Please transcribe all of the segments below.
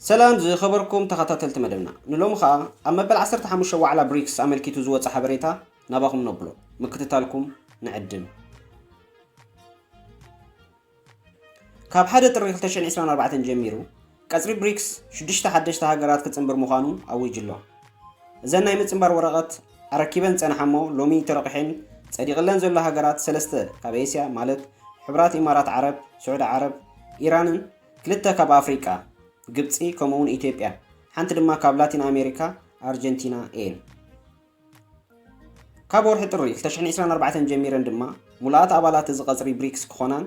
ሰላም ዝኸበርኩም ተኸታተልቲ መደብና ንሎሚ ከዓ ኣብ መበል 15 ዋዕላ ብሪክስ ኣመልኪቱ ዝወፀ ሓበሬታ ናባኹም ነብሎ ምክትታልኩም ንዕድም ካብ ሓደ ጥሪ ክልተ ሽሕን ዒስራን ኣርባዕተን ጀሚሩ ቀጽሪ ብሪክስ ሽዱሽተ ሓደሽቲ ሃገራት ክጽንብር ምዃኑ ኣዊጁ'ሎ። እዘን ናይ ምጽንባር ወረቐት ኣረኪበን ዝጸንሓ'ሞ ሎሚ ተረቝሒን ጸዲቕለን ዘሎ ሃገራት ሰለስተ ካብ ኤስያ ማለት ሕቡራት ኢማራት ዓረብ፣ ስዑዲ ዓረብ፣ ኢራንን ክልተ ካብ ኣፍሪቃ ግብጺ ከምኡ'ውን ኢትዮጵያ ሓንቲ ድማ ካብ ላቲን ኣሜሪካ ኣርጀንቲና እየን። ካብ ወርሒ ጥሪ 2024 ጀሚረን ድማ ሙሉኣት ኣባላት እዚ ቀፅሪ ብሪክስ ክኾናን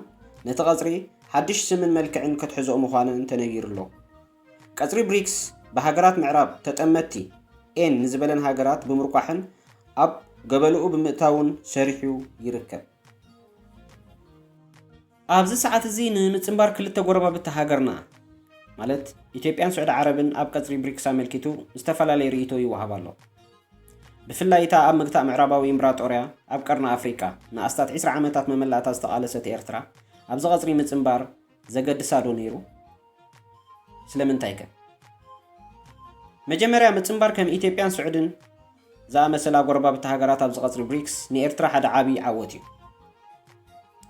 ነቲ ቀፅሪ ሓድሽ ስምን መልክዕን ከትሕዝኦ ምዃነን ተነጊሩ'ሎ። ቀፅሪ ብሪክስ ብሃገራት ምዕራብ ተጠመትቲ ኤን ንዝበለን ሃገራት ብምርቋሕን ኣብ ገበልኡ ብምእታውን ሰሪሑ ይርከብ። ኣብዚ ሰዓት እዚ ንምጽንባር ክልተ ጎረባብቲ ሃገርና ማለት ኢትዮጵያን ስዑዲ ዓረብን ኣብ ቀጽሪ ብሪክስ ኣመልኪቱ ዝተፈላለየ ርእይቶ ይወሃብ ኣሎ። ብፍላይ እታ ኣብ ምግታእ ምዕራባዊ እምብራጦርያ ኣብ ቀርኒ ኣፍሪቃ ንኣስታት ዕስራ ዓመታት መመላእታ ዝተቓለሰት ኤርትራ ኣብዚ ቀጽሪ ምጽንባር ዘገድሳ ዶ ነይሩ? ስለምንታይከ? መጀመርያ ምጽንባር ከም ኢትዮጵያን ስዑድን፣ ዝኣመሰላ ጎረባብቲ ሃገራት ኣብዚ ቀጽሪ ብሪክስ ንኤርትራ ሓደ ዓቢ ዓወት እዩ።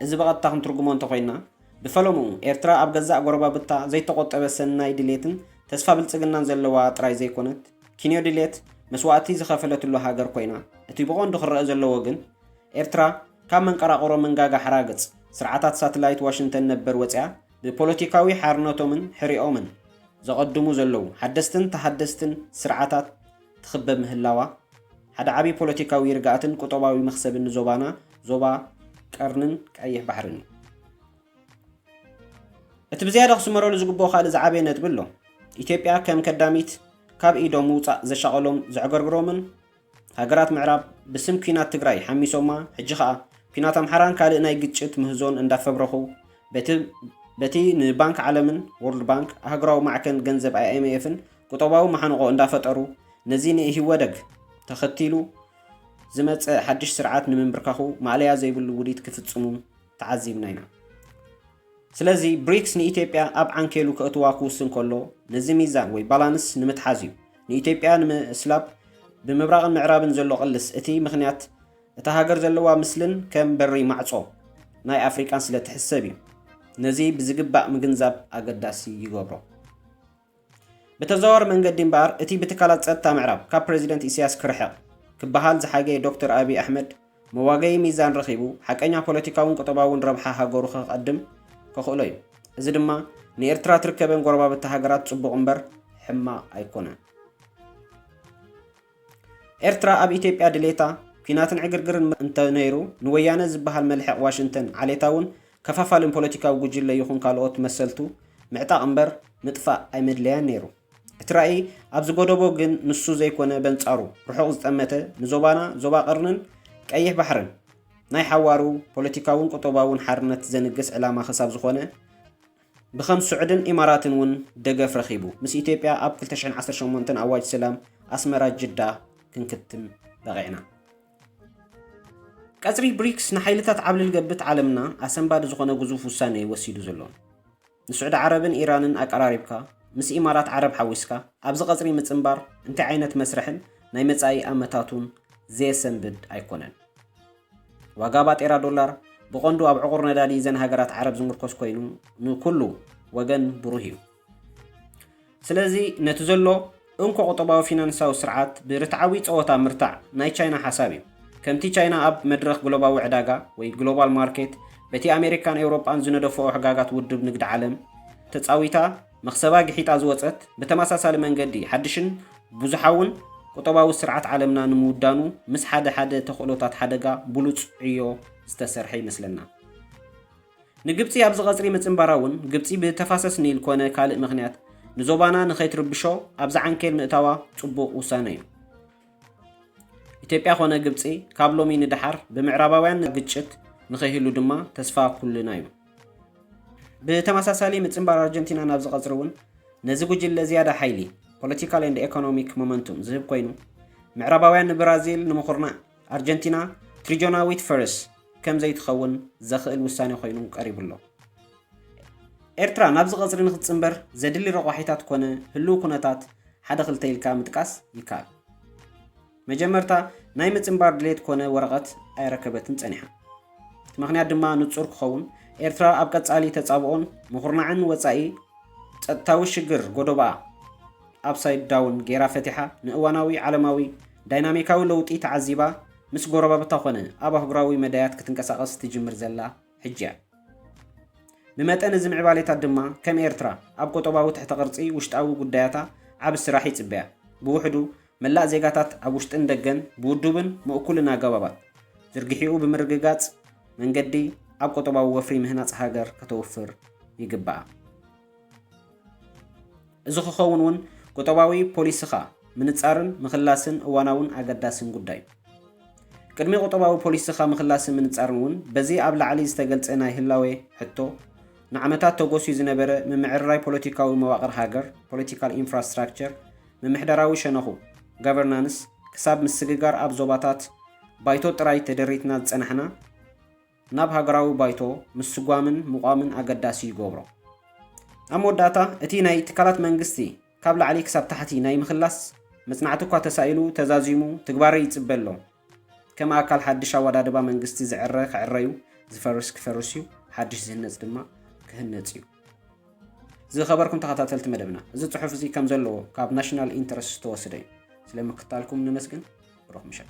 እዚ ብቐጥታ ክንትርጉሞ እንተ ኮይንና፣ ብፈለምኡ ኤርትራ ኣብ ገዛእ ጎረባብታ ዘይተቖጠበ ሰናይ ድሌትን ተስፋ ብልጽግናን ዘለዋ ጥራይ ዘይኮነት፣ ኪንዮ ድሌት መስዋእቲ ዝኸፈለትሉ ሃገር ኮይና፣ እቲ ብቐንዱ ክረኣ ዘለዎ ግን፣ ኤርትራ ካብ መንቀራቕሮ መንጋጋ ሓራግጽ ስርዓታት ሳትላይት ዋሽንተን ነበር ወጺኣ ብፖለቲካዊ ሓርነቶምን ሕሪኦምን ዘቐድሙ ዘለዉ ሓደስትን ተሃደስትን ስርዓታት ትኽበብ ምህላዋ፣ ሓደ ዓቢ ፖለቲካዊ ርግኣትን ቁጠባዊ መኽሰብን ንዞባና፣ ዞባ ቀርኒን ቀይሕ ባሕርን እዩ። እቲ ብዝያዳ ክስመረሉ ዝግብኦ ካልእ ዝዓበየ ነጥቢ ኣሎ። ኢትዮጵያ ከም ከዳሚት ካብ ኢዶም ምውጻእ ዘሻቐሎም ዘዕገርግሮምን ሃገራት ምዕራብ ብስም ኲናት ትግራይ ሓሚሶማ ሕጂ ከኣ ኲናት ኣምሓራን ካልእ ናይ ግጭት ምህዞን እንዳፈብረኹ በቲ በቲ ንባንክ ዓለምን፣ World Bank፣ ኣህጉራዊ ማዕከን ገንዘብ IMF ን ቁጠባዊ መሓንቖ እንዳፈጠሩ ነዚ ንኢህወደግ ተኸቲሉ ዝመፀ ሓድሽ ስርዓት ንምንብርካኹ ማእለያ ዘይብሉ ውዲት ክፍፅሙ ተዓዚብና ኢና። ስለዚ ብሪክስ ንኢትዮጵያ ኣብ ዓንኬሉ ከእትዋ ክውስን ከሎ ነዚ ሚዛን ወይ ባላንስ ንምትሓዝ እዩ። ንኢትዮጵያ ንምስላብ ብምብራቕን ምዕራብን ዘሎ ቅልስ እቲ ምኽንያት እታ ሃገር ዘለዋ ምስልን ከም በሪ ማዕፆ ናይ ኣፍሪቃን ስለትሕሰብ እዩ። ነዚ ብዝግባእ ምግንዛብ ኣገዳሲ ይገብሮ። ብተዘዋዋሪ መንገዲ እምበኣር እቲ ብትካላት ጸጥታ ምዕራብ ካብ ፕረዚደንት ኢሳያስ ክርሕቕ ክበሃል ዝሓገየ ዶክተር ኣቢይ ኣሕመድ መዋገዪ ሚዛን ረኺቡ ሓቀኛ ፖለቲካውን ቁጠባውን ረብሓ ሃገሩ ከቐድም ከኽእሎ እዩ። እዚ ድማ ንኤርትራ ትርከበን ጎረባብቲ ሃገራት ጽቡቕ እምበር ሕማቕ ኣይኮነን። ኤርትራ ኣብ ኢትዮጵያ ድሌታ ኲናትን ዕግርግርን እንተ ነይሩ ንወያነ ዝበሃል መልሕቕ ዋሽንተን ዓሌታውን ከፋፋልን ፖለቲካዊ ጉጅለ ይኹን ካልኦት መሰልቱ ምዕጣቕ እምበር ምጥፋእ ኣይመድለያን ነይሩ። እቲ ራኢ ኣብ ዝጎደቦ ግን ንሱ ዘይኮነ በንጻሩ ርሑቕ ዝጠመተ ንዞባና ዞባ ቀርንን ቀይሕ ባሕርን ናይ ሓዋሩ ፖለቲካውን ቁጠባውን ሓርነት ዘንግስ ዕላማ ክሳብ ዝኾነ ብከም ሱዕድን ኢማራትን ውን ደገፍ ረኺቡ። ምስ ኢትዮጵያ ኣብ ክልተ ሽሕን ዓሰርተ ሸሞንተን ኣዋጅ ስላም ኣስመራ ጅዳ ክንክትም በቒዕና። ቀጽሪ ብሪክስ ንሓይልታት ዓብልል ገብት ዓለምና ኣሰንባዲ ዝኾነ ግዙፍ ውሳኔ እዩ ወሲዱ ዘሎ። ንሱዕዲ ዓረብን ኢራንን ኣቀራሪብካ ምስ ኢማራት ዓረብ ሓዊስካ ኣብዚ ቀጽሪ ምጽንባር እንታይ ዓይነት መስርሕን ናይ መጻኢ ኣመታቱን ዘየሰንብድ ኣይኮነን። ዋጋ ባጤራ ዶላር ብቐንዱ ኣብ ዕቑር ነዳዲ እዘን ሃገራት ዓረብ ዝምርኮስ ኮይኑ ንኩሉ ወገን ብሩህ እዩ። ስለዚ ነቲ ዘሎ እንኮ ቁጠባዊ ፊናንሳዊ ስርዓት ብርትዓዊ ጸወታ ምርታዕ ናይ ቻይና ሓሳብ እዩ። ከምቲ ቻይና ኣብ መድረኽ ግሎባዊ ዕዳጋ ወይ ግሎባል ማርኬት በቲ ኣሜሪካን ኤውሮጳን ዝነደፍኦ ሕጋጋት ውድብ ንግዲ ዓለም ተጻዊታ፣ መኽሰባ ግሒጣ ዝወጸት፣ ብተመሳሳሊ መንገዲ ሓድሽን ብዙሓውን ቁጠባዊ ስርዓት ዓለምና ንምውዳኑ ምስ ሓደ ሓደ ተኽእሎታት ሓደጋ ብሉጽ ዕዮ ዝተሰርሐ ይመስለና። ንግብጺ ኣብዚ ቀጽሪ ምጽንባራ እውን፣ ግብጺ ብተፋሰስ ኒል ኮነ ካልእ ምኽንያት ንዞባና ንኸይትርብሾ ኣብዚ ዓንኬል ምእታዋ ጽቡቕ ውሳነ እዩ። ኢትዮጵያ ኮነ ግብጺ ካብ ሎሚ ንደሓር ብምዕራባውያን ግጭት ንኸይህሉ ድማ ተስፋ ኩልና እዩ። ብተመሳሳሊ ምጽንባር ኣርጀንቲና ናብዚ ቀጽሪ እውን ነዚ ጉጅለ ዝያዳ ሓይሊ፣ ፖለቲካል ኤንድ ኤኮኖሚክ ሞመንቱም፣ ዝህብ ኮይኑ፣ ምዕራባውያን ንብራዚል ንምኹርናዕ ኣርጀንቲና ትሪጆናዊት ፈርስ ከም ዘይትኸውን ዘኽእል ውሳኔ ኮይኑ ቀሪቡ ኣሎ። ኤርትራ ናብዚ ቀጽሪ ንክትጽንበር ዘድሊ ረቋሒታት ኮነ ህሉው ኩነታት ሓደ ክልተ ኢልካ ምጥቃስ ይከኣል። መጀመርታ ናይ ምጽንባር ድሌት ኮነ ወረቐት ኣየረከበትን ጸኒሓ። እቲ ምኽንያት ድማ ንጹር ክኸውን፣ ኤርትራ ኣብ ቀጻሊ ተጻብኦን ምኹርናዕን ወጻኢ ጸጥታዊ ሽግር ጎዶባኣ ኣፕሳይድ ዳውን ገይራ ፈቲሓ ንእዋናዊ ዓለማዊ ዳይናሚካዊ ለውጢ ተዓዚባ ምስ ጎረባብታ ኮነ ኣብ ኣህጉራዊ መዳያት ክትንቀሳቐስ ትጅምር ዘላ ሕጂ እያ። ብመጠን እዚ ምዕባሌታት ድማ ከም ኤርትራ ኣብ ቁጠባዊ ትሕተ ቅርጺ ውሽጣዊ ጉዳያታ ዓቢ ስራሕ ይጽበያ። ብውሕዱ መላእ ዜጋታት ኣብ ውሽጥን ደገን ብውዱብን ምእኩልን ኣገባባት ዝርግሒኡ ብምርግጋጽ መንገዲ ኣብ ቁጠባዊ ወፍሪ ምህናጽ ሃገር ከተውፍር ይግበኣ። እዚ ክኸውን እውን ቁጠባዊ ፖሊስኻ ምንጻርን ምኽላስን እዋናውን ኣገዳስን ጉዳይ እዩ። ቅድሚ ቁጠባዊ ፖሊስኻ ምኽላስን ምንጻርን እውን በዚ ኣብ ላዕሊ ዝተገልጸ ናይ ህላዌ ሕቶ ንዓመታት ተጎስዩ ዝነበረ ምምዕርራይ ፖለቲካዊ መዋቕር ሃገር፣ Political Infrastructure፣ ምምሕዳራዊ ሸነኹ፣ Governance፣ ክሳብ ምስግጋር ኣብ ዞባታት ባይቶ ጥራይ ተደሪትና ዝጸናሕና፣ ናብ ሃገራዊ ባይቶ ምስጓምን ምቋምን ኣገዳሲ ይገብሮ። ኣብ መወዳእታ፣ እቲ ናይ ትካላት መንግስቲ ካብ ላዕሊ ክሳብ ታሕቲ ናይ ምክላስ መጽናዕቲ'ኳ ተሳኢሉ ተዛዚሙ ትግባረ ይጽበ ኣሎ። ከም ኣካል ሓድሽ ኣወዳድባ መንግስቲ ዝዕረ ክዕረ'ዩ፣ ዝፈርስ ክፈርስ'ዩ፣ ሓድሽ ዝህነጽ ድማ ክህነጽ'ዩ። ዝኸበርኩም ተኸታተልቲ መደብና፣ እዚ ጽሑፍ'ዚ ከም ዘለዎ ካብ ናሽናል ኢንተረስት ዝተወስደ'ዩ። ስለ ምክትታልኩም ነመስግን። ብሩኽ ምሸት።